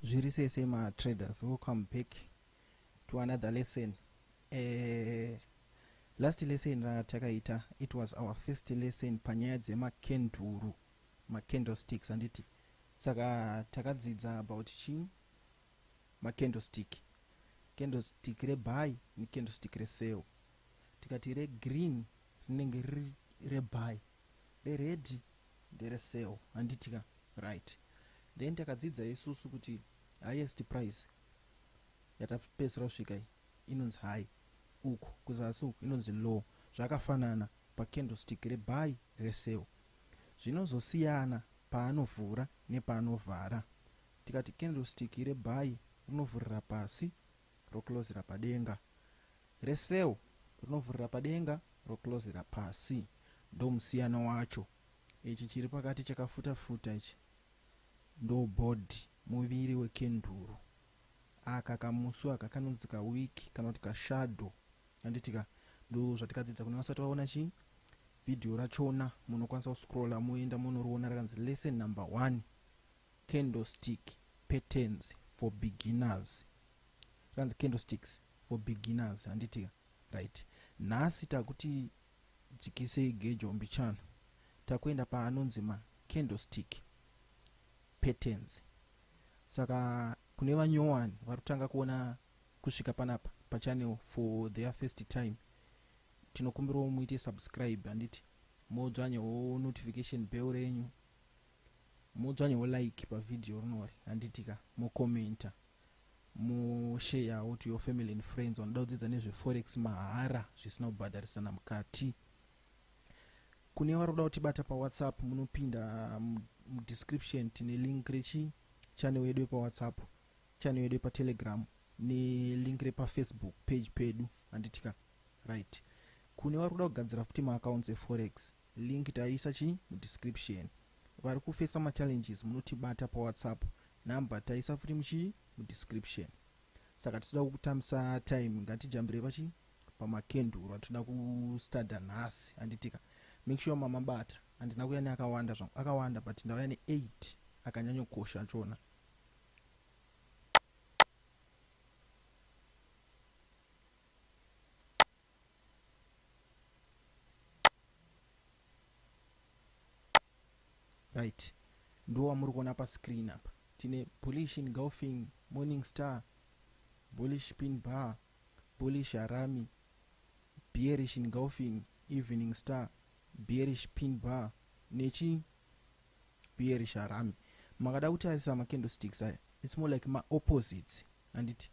zviri sei sei ma traders welcome back to another lesson eh, last lesson ratakaita it was our first lesson panyaya dzemakenduru macandlesticks handiti saka takadzidza about chii macandlestick candlestick rebuy necandlestick resale tikati regreen rinenge riri rebuy reredhi ndere sale handiti ka right then takadzidza isusu kuti highest price yatapedzisira kusvika iyi inonzi high uku kuzasi uku inonzi low zvakafanana pacandlestick rebuy resale zvinozosiyana paanovhura nepaanovhara tikati candlestick rebuy rinovhurira pasi roklozera padenga, reCell rinovhurira padenga roklozera pasi. Ndomusiyano wacho. Ichi chiri pakati chakafuta futa ichi ndobody, muviri wekenduru. Aka kamusu aka kanonzi kawick kana kuti kashadow handitika? Ndozvatikadzidza kune vasati vaona chii video rachona munokwanisa kuscroller moenda monoriona rakanzi lesson number one. Candlestick patterns for beginners zvanzi candlesticks for beginners handiti ka right nhasi takuti dzikisei gejo mbichana takuenda paanonzi ma candlestick patterns saka kune vanyowani vari kutanga kuona kusvika panapa pachannel for their first time tinokumbirawo muite subscribe handiti modzvanyawo notification bell renyu Modzwanyawo like pa video rinori handiti ka, mo commenter, mo sharewo to your family and friends vanoda kudzidza nezve forex mahara zvisina kubhadharisana mukati. Kune vari kuda kutibata pa WhatsApp munopinda mu description tine link rechi channel yedu yepa WhatsApp, channel yedu yepa Telegram ne link repa Facebook page pedu handiti ka. Right. Kune vari kuda kugadzira futi ma accounts e forex Link taisa chi mu description. Vari ku facer ma challenges munotibata pa whatsapp number taisa futi muchi mu description. Saka tisida kukutambisa time ngatijambire pachi pama kenduru atinoda ku studer nhasi handitika. Make sure mamabata handina kuya ne akawanda zvangu akawanda but ndauya ne 8 akanyanyo kosha achona. right ndiwo wamuri kuona pascreen apa tine bullish engulfing morning star bullish pin bar bullish harami bearish engulfing evening star bearish pin bar nechi bearish harami makada kutarisa macandlesticks aya its more like maopposites handiti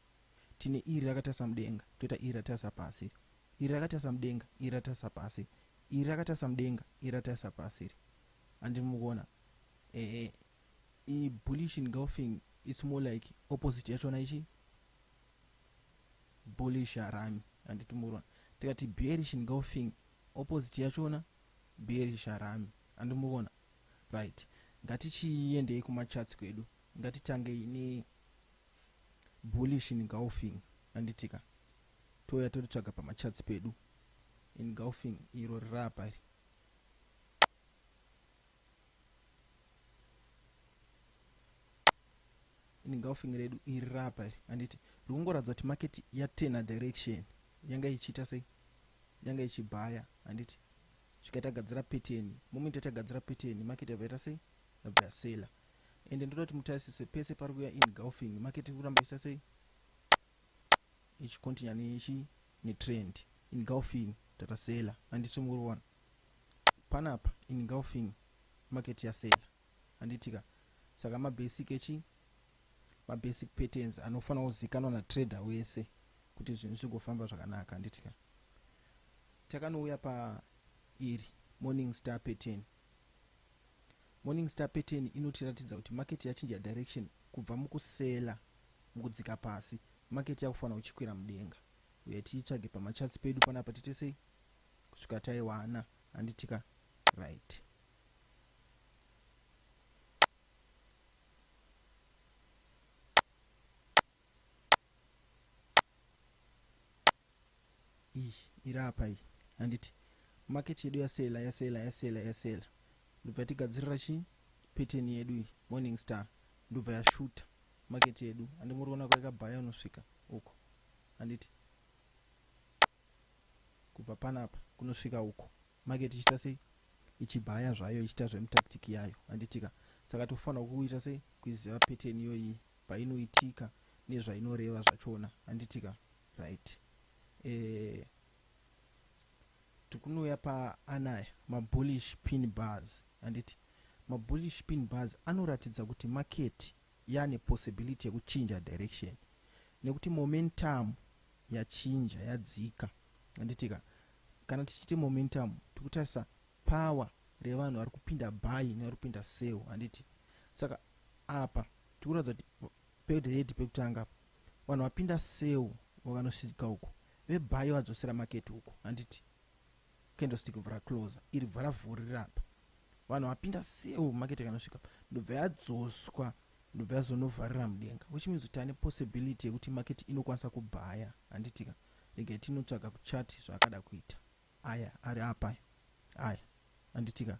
Tine iri rakatarisa mudenga, toita iri ratarisa pasi iri. Iri rakatarisa mudenga, iri ratarisa pasi. Iri rakatarisa mudenga, iri ratarisa pasi iri. Handi mukuona? Ehe. I bullish engulfing it's more like opposite yachona ichi bullish harami handiti mukuona. Tikati bearish engulfing opposite yachona bearish harami handi mukuona? Right. Ngatichiendei kumacharts kwedu. Ngatitangei ne Bullish in golfing handitika touya toritsvaga pamacharts pedu in golfing iro riraapa iri. In golfing redu iri raapa iri handiti rikungoratidza kuti market yatena direction yanga ichiita sei yanga ichibhaya handiti zvikaita gadzira peteni moment yatagadzira peteni market yabva yaita sei yabva yasela ende ndoda kuti mutarisise pese pari kuya engulfing market iri kuramba ichita sei ichikontinya nechi netrend engulfing tata sela handiti muri kuona panapa engulfing market yasela handitika saka mabasic echi mabasic patterns anofanira kuzikanwa natrader wese kuti zvinhu zvigofamba zvakanaka handitika takanouya pa iri morning star pattern Morning Star pattern inotiratidza kuti market yachinja direction kubva muku seller mukudzika pasi market yakufanirwa ichikwira mudenga. Huyai tiitsvage pama charts pedu panapa tiite sei kusvika taiwana handitika right. Iyi iri apa iyi handiti market yedu yasela yasela yasela yasela ndobva yatigadzirira chii pattern yedu iyi morning star ndobva yashuta market yedu andimuriona kwaikabhaya unosvika uko handiti kubva panapa kunosvika uko market ichiita sei ichibhaya zvayo ichiita zvemutactic yayo handitika saka tofanira kuita sei kuiziva pattern iyoyi painoitika nezvainoreva zvachona handitika Right. Eh, tikunouya paanaya mabullish pin bars handiti mabullish pin bars anoratidza kuti market yane possibility yekuchinja direction nekuti momentum yachinja yadzika handitika kana tichiti momentum tikutarisa power revanhu vari kupinda buy nevari kupinda sell handiti saka apa tikuratidza kuti Page read Pekutanga apa vanhu vapinda sell vakanosvika uko ve buy vadzosera market uko handiti candlestick vhura closer iri vhara vhurira apa vanhu vapinda sell market yakanosvika apa ndobva yadzoswa ndobva yazonovharira mudenga which means kuti ane possibility yekuti market inokwanisa kubhaya handitika regai tinotsvaga kuchati zvaakada kuita aya ari apa aya handitika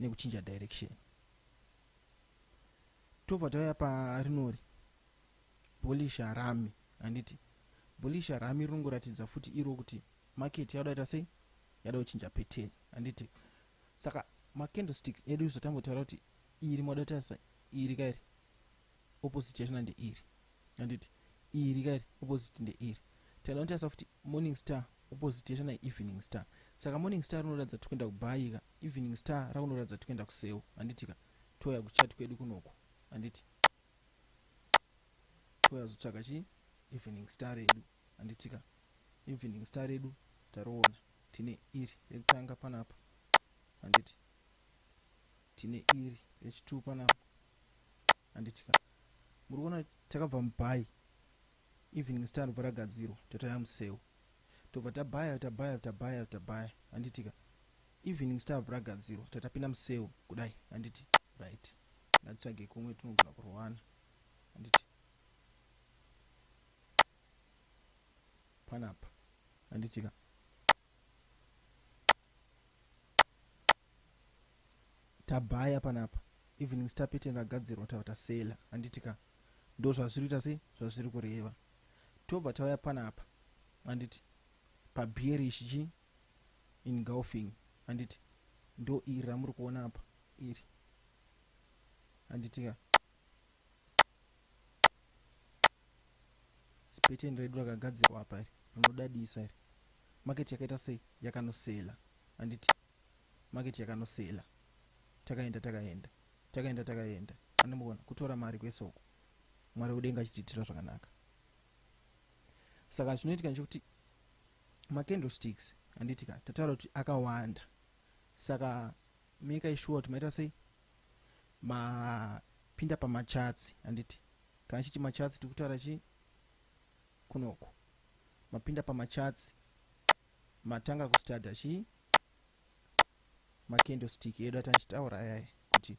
nekuchinja direction tobva tauya parinori bullish harami handiti bullish harami rinongoratidza futi iro kuti market yauda ita sei yada kuchinja pattern handiti saka macandlesticks edu isu tambotaura kuti iri moda tarisa iri kairi opposite yachona ndeiri handiti iri kairi opposite ndeiri tinoda kutarisa futi morning star opposite yachona evening star saka morning star rinoratidza tikuenda kubayika Evening Star rakunoratidza kuti kuenda kuseu handiti ka touya kuchat kwedu kunoku handiti touya zotsvaga chii Evening Star redu handiti ka Evening Star redu taroona tine iri rekutanga panapa handiti tine iri rechituu panapa handiti ka muri kuona takabva mubai Evening Star ndobva ragadzirwa totaya museu Tobva tabaya tabaya tabaya tabaya handitika. Evening stuff ragadzirwa tatapinda museu kudai handiti right ngatitsvage kumwe tinogona kurwana handiti panapa handitika tabaya panapa evening star pattern ragadzirwa tava tasela handitika ndo zvazviri kuita sei zvazviri kureva tobva tauya panapa handiti pabearish chi engulfing handiti ndo iri ramuri kuona apa iri handitika zipeteni redu rakagadzirwa apa iri rinodadisa iri maketi yakaita sei yakanosela handiti maketi yakanosela takaenda takaenda takaenda takaenda anomuona kutora mari kwese uku Mwari wekudenga achitiitira zvakanaka. Saka zvinoitika ndechekuti macandlesticks handiti ka tataura kuti akawanda saka meka ishuwa kuti maita sei mapinda pamachatsi handiti kana chiti machatsi tiri kutaura chii kunoku mapinda pamachatsi matanga kustadha chii macandlestick edu atachitaura ayaya kuti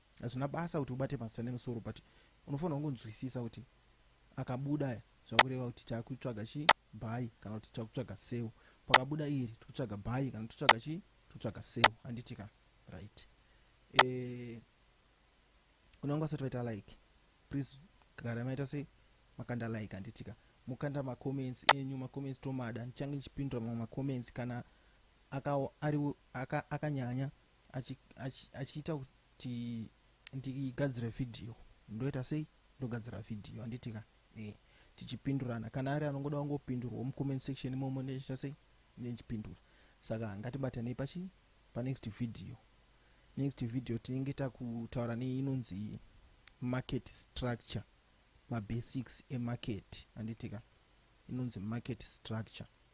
Hazvina basa kuti ubate mazita nemusoro but unofanirwa kungonzwisisa kuti akabuda aya zvakureva kuti takutsvaga chi bhayi kana kuti takutsvaga seu pakabuda iri tikutsvaga bhayi kana tikutsvaga chi tikutsvaga seu handiti ka right e, eh, kune vanga vasati vaita like please gara maita sei makanda like handiti ka mukanda macomments enyu macomments tomada ndichange ndichipindura mamwe macomments kana akanyanya aka, aka achiita kuti ndigadzire vhidhiyo ndoita sei ndogadzira vhidhiyo handiti ka e eh, tichipindurana kana ari anongoda kungopindurwa mucomment section imomo ndechiita sei ndechipindura saka ngatibatanei pachi panext vhidhiyo next vhidhiyo tinenge takutaura neinonzi market structure mabasics emarket handiti ka inonzi market structure